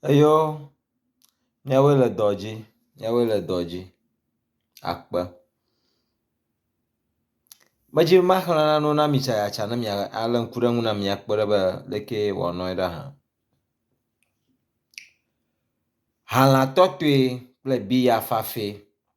Eyɔ míawoe le dɔ dzi, míawoe le dɔ dzi akpe. Medzi be maxlẽ nanewo na mi tsayatsa ne mia alé ŋku ɖe eŋu na mi akpɔ ɖa be aleke wòanɔe ɖa hã. Halã tɔtɔe kple biya fafɛ.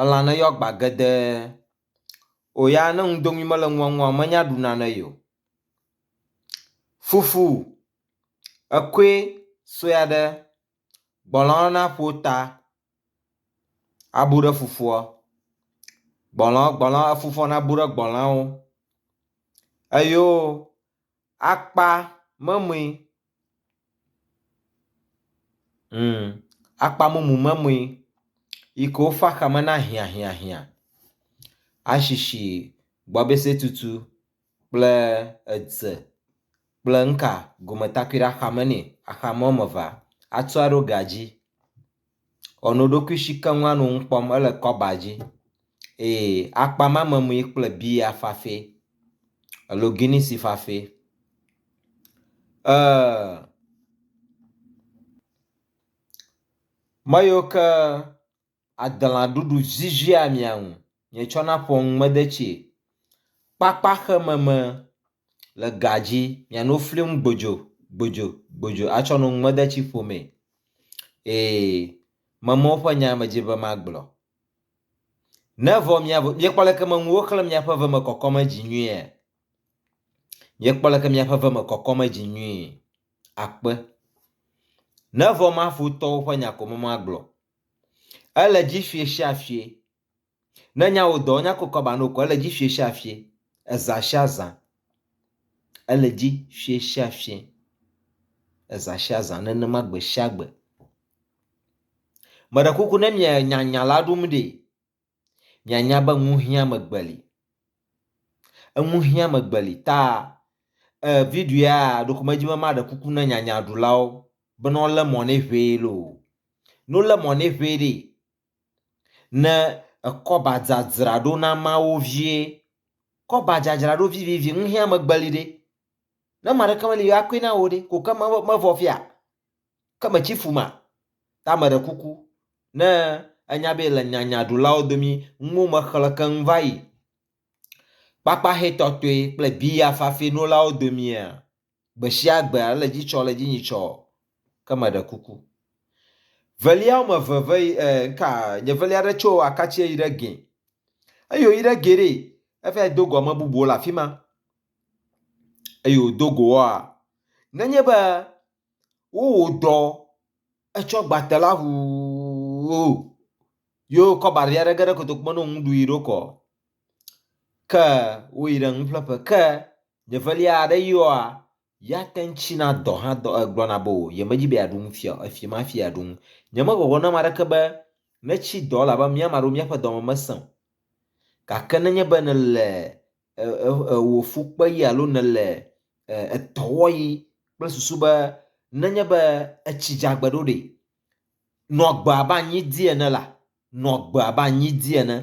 Elã ne yɔ agba gedee. Wò ya ne nu dom yim mele nua ŋua, menya ɖu nane ye o. Fufu, ekoe sue aɖe, gbɔlɔ na ƒo ta abu ɖe fufua. Gbɔlɔ gbɔlɔ efufua nabu ɖe gbɔlɔawo. Eyo akpa memee mm akpa mumu memee yi ke wofa xame na hiahiahia, ashishi, gbɔbesetutu kple edze kple nuka gometakuiɖe axame nɛ axame woame evea atsɔ aɖo ga dzi. Ewɔ no ɖokui si keŋ la nɔ nu kpɔm. Ele kɔba dzi eye akpa ma me mue kple biya fafɛ alo guinisi fafɛ. Eeee me yiwo ke adelã ɖuɖu zizia mia nu. nye tsɔ na ƒɔ ŋ me de tsi kpakpa xe me me le ga dzi mia no fli ŋ gbodzo gbodzo gbodzo a tsɔ no ŋ me de tsi ƒo me ee me me woƒe nya me dzi be ma gblɔ ne vɔ mia mia kpɔ leke me ŋu wo xle mia ƒe ve me kɔkɔ me dzi nyuie mia kpɔ leke mia ƒe ve me kɔkɔ me dzi nyuie akpe ne vɔ ma fu tɔwo ƒe nya ko me ma gblɔ ele dzi fie sia fie Ne nyawo dɔ nya ko kɔba no ko ele dzi fie sia fie, eza sia zã. Ele dzi fie sia fie, eza sia zã nenema gbe sia gbe. Meɖe kuku ne mienya nya la ɖum ɖi. Mianya be nuhiame gbe li. Enuhiame gbe li ta e video ya ɖeko medzi be maɖe kuku ne nyanyaɖulawo bene wolé mɔ nɛ ʋɛ loo. Ne wolé mɔ nɛ ʋɛ ɖee, ne ekɔba dzadzraɖo na Mawu vie. Kɔba dzadzraɖo vivivi ŋu hɛa megbe li ɖe. Ne ame aɖeke meli akɔe na wò ɖe, ko ke me mevɔ fia? Ke metsi fu ma? Ta meɖe kuku, ne ènya be le nyanyaɖulawo domi nuwo me xlẽ keŋ va yi kpakpaxɛ tɔtɔe kple biya fafɛ nolawo domia, gbeshiagbea le dzi tsɔ le dzinyi tsɔ ke me ɖe kuku velia wɔme eve ve e nka nye velia ɖe tso akatsie yi ɖe gɛ eyi wo yi ɖe gɛ ɖe eva yi do go ame bubuwo le afi ma eyi wo do go wɔa nenye be wowɔ dɔ etsɔ gbate la ʋuuuu yo kɔ bari aɖe ge ɖe kotoku me no ŋu ɖu yi ɖo kɔ ke wo yi ɖe nuƒleƒe ke Nye velia aɖe yɔa ya te ŋu tsina dɔ hã dɔ gblɔna be o yemedi be yeaɖu nu fia o, efim hafi yeaɖu nu. Nyemegbɔgblɔ na ame aɖeke be netsi dɔ o elabe mía ame aɖewo míaƒe dɔ me mesẽ o. Gake nenye be nèle wò fu kpeɣi alo nèle etɔ wɔɣi kple susu be nenye be etsi dze agbe ɖo ɖe, nɔ agbe abe anyi di ene la, Nɔ agbe abe anyi dzi ene.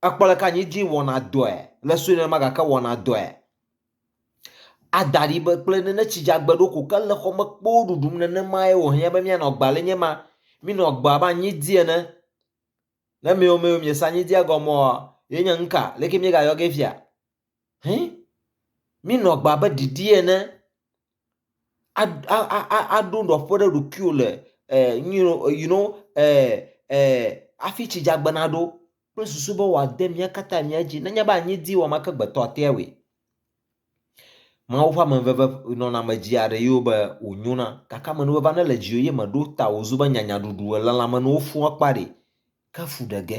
Èkpɔ aleke anyi dzi wɔna dɔe, le sue nenema gake wɔna dɔe. Ada ɖi be kple nene tsi dzeagbe ɖo ko ke le xɔ me kpoo ɖuɖum nenemae wòhiã be míanɔ agbe ale nye ma. Mínɔ agbe abe anyi dzi ene. Ne miwo miwo miese anyi dzia gɔmea, ye nye nuka? Leke míegayɔ gee fia? Hin, minɔ agbe abe ɖiɖi ene, aɖo nɔƒe ɖe ɖokuiwò le you know hafi tsi dzaagbe naɖo kple susu be wòade mía katã mía dzi nenye be anyi di wɔame ke gbetɔ atea wui. Mawu ƒe amenuveve nɔnɔme dzia ɖe yewo be wònyona gake amenuveve aɖe le dziwò eye mèɖo ta o wòzu be nyanyaɖuɖu elãlãmenuwo fũ akpa ɖi. Ke fu ɖe ge.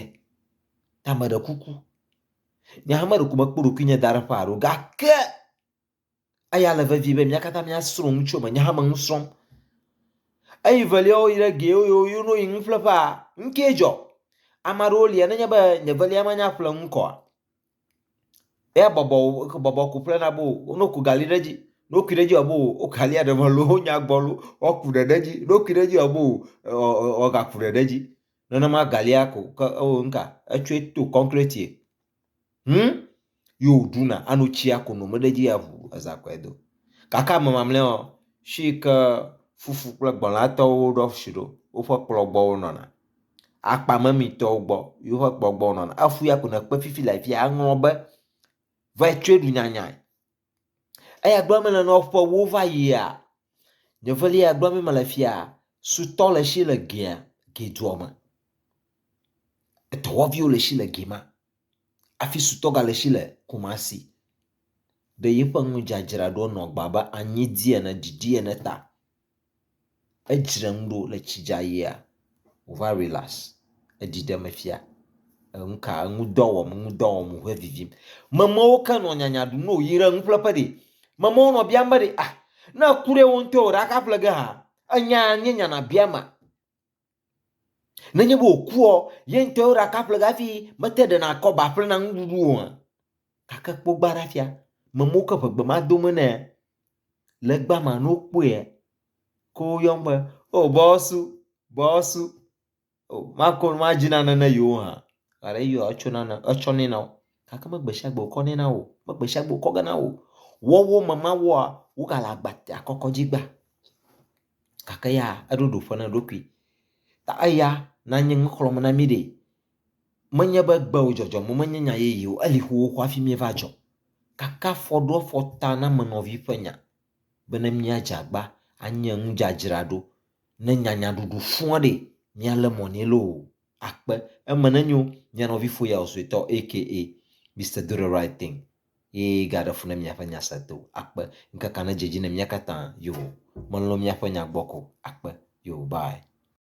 Tame ɖe kuku. Nye hã meɖo ŋkume kpɔ ɖokuinye da ɖe ƒe aɖo, gake eya le vevie be mía katã míasrɔ̃ nu tso eme. Nye hã me nu srɔ̃m. Eyi velia woyi ɖe ge woyo yo no yi nu ƒle ƒea, nu kee dzɔ. Ame aɖewo lia nenye be nye velia manya ƒle nu kɔ. Eya bɔbɔ wo bɔbɔ ko ƒlena bo wo no ku gali ɖe edzi. Ne wokui ɖe edzi abo wo galia ɖe me loo wonya gbɔ loo woaku ɖe ɖe edzi. Ne wokui ɖe edzi abo wo ɔ ɔ ɔ ɔ gaku ɖe ɖe edzi. Nenema galia ko ke eo nka etsɔe to concretie. Hum yo ɖuna ano tsia ko no meɖe dzi avu eza kɔe do. Gake ame mamlɛawo shi ke fufu kple gbɔlatɔwo woɖɔ shi ɖo woƒe kplɔ gbɔ wonɔna. Akpa memitɔwo gbɔ yoƒe kplɔ gbɔ wonɔna. Efuya ko ne kpe fifi le afia eŋlɔ be, Vetsɔe ɖu nyanyae. Eya gblɔm mele nɔ ƒe ewo va yia, nye velia gblɔm mi mele fia, sutɔ le si le gea, ge dua me. Etɔwɔviwo le si le ge ma. Afi sutɔ ga le si le Kumasi. Be yeƒe nudzadzra ɖo nɔ gba be anyi di ene, didi ene ta. Edzre nu ɖo le tsi dza yia wova relax eɖi ɖem fia. Enu ka enu dɔ wɔm enu dɔ wɔm wòhe vivim. Memewo ke nɔ nyanya ɖum ne wòyi ɖe nuƒleƒe ɖi. Memewo nɔ biam be ɖe ah ne eku ɖe wo ŋutɔe o ɖe aka ƒle ge haa? Enya ye nye nya nàbia ma. Nenye be wòkuɔ, ye ŋutɔ yewo ɖaka ƒle hafi mete ɖena kɔ ba ƒlena nuɖuɖu oa? Gake kpɔ gbã ɖa fia, memewo ke ʋegbe ma do me nɛ. Le egbea mea, ne wokpɔe, ke woyɔm be, O bɔsu, bɔsu, o mako nu madzi nane ne yewo hã. Gale eyɔa, etsɔ nane, etsɔ nɛ na wo. Gake megbe sia gbe wòkɔ nɛ na wo, megbe sia gbe wòkɔ ge na wo. Wɔwɔ me ma wɔa, wogale agba, akɔkɔ dzi gbã. gake ya eɖo ɖo ƒe na eɖokui. Ta eya nanye nu xlɔ̃m na mí ɖe. Menye be gbewo dzɔdzɔm o, menye nya yeye o, eli xoxo hafi míeva dzɔ. Gake afɔ ɖo afɔ ta na ame nɔvi ƒe nya bene míadze agba anye nu dzadzraɖo ne nyanyaɖuɖu fua ɖe míalé mɔ nɛ loo akpe. Eme nenyo mía nɔvi foyawo suetɔ aka Mister Do the Right Thing. ye gaɖe fu ne miaƒe nya se do akpe ŋkekea nedze edzi ne mía katã yoo melɔ̃ miaƒe nya gbɔ ko akpe yoo bye.